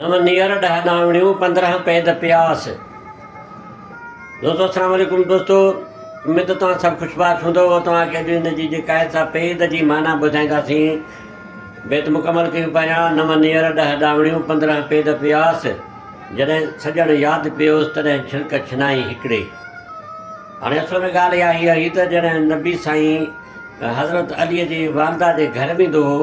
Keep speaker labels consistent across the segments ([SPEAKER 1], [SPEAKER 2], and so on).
[SPEAKER 1] نو نير ڏهه ڏاوڻيون پندرهن پيد پياس. دوستو السلام عليڪم دوستو اميد توهان سڀ خوشباش هوندو توهان کي اڄ ان جي جيڪا آهي سا پيد جي معنی ٻڌائينداسين بيت مڪمل ڪيون پهريان نو نير ڏهه ڏاوڻيون پندرهن پيد پياس جڏهن سڄڻ ياد پيوس تڏهن ڇلڪ ڇنائي هڪڙي هاڻي اصل ۾ ڳالهه اها هي ته جڏهن نبي سائين حضرت علي جي والده جي گهر ويندو هو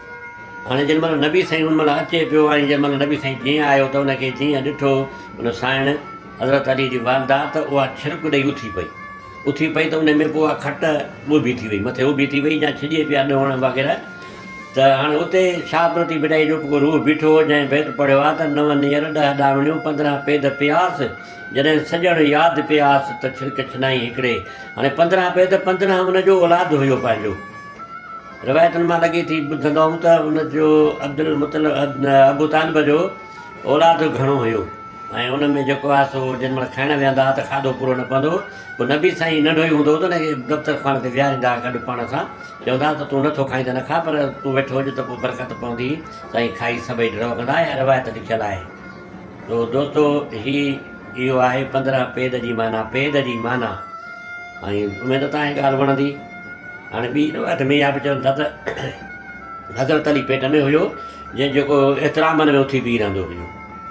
[SPEAKER 1] هاڻي جنهن مهل نبي سائين ان مهل اچي پيو ۽ جنهن مهل نبي سائين جيئن آيو ته ان کي جيئن ڏٺو ان سائڻ حضرت علي جي والده ته اها ڇرڪ ڏئي اٿي پئي اٿي پئي ته ان ۾ پوء کٽ اڀي ٿي وئي مٿي اڀي ٿي وئي جا ڇڄي پيا ڏهوڻ وغيره ته هاڻي اتي شاهه پرتي بڊائي جو پڪو روح بيٺو هو جنهن بيت پڙهيو آ ته نو نير ڏهه ڏاوڻيون پندرهن پيد پياس جڏهن سڄڻ ياد پياس ته ڇرڪ ڇنائي هڪڙي هاڻي پندرهن پيد پندرهن ان جو اولاد هيو پنهنجو روايتن مان لڳي ٿي ٻڌندوم ته ان جو عبدالمطلب ابوطالب جو اولاد گهڻو هيو ۽ ان ۾ جيڪو آهي سو جنهن مهل کائڻ ويهندا ها ته کاڌو پورو نه پوندو هو پوء نبي سائين ننڍو ئي هوندو هو ته ان کي دفترخوان تي ويهاريندا ها گڏ پاڻ سان چوندا ها ته تون نه ٿو کائين ته نه کاء پر تون ويٺو هج ته پوء برڪت پوندي سائين کائي سڀئي ڊرو ڪندا اها روايت لکيل آهي. تو دوستو هي اهو آهي پندرهن پيد جي معنيٰ پيد جي معنيٰ ۽ اميد ته تهان کي ڳالهه وڻندي هاڻي ٻي روایت ۾ اها به چون ٿا ته حضرت علي پيٽ ۾ هيو جنهن جيڪو احترامن ۾ اٿي بيهي رهندو هيو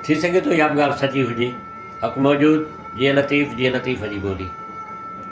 [SPEAKER 1] ٿي سگهي ٿو اها به ڳالهه سچي هجي حق موجود جي لطيف جي لطيف جي ٻولي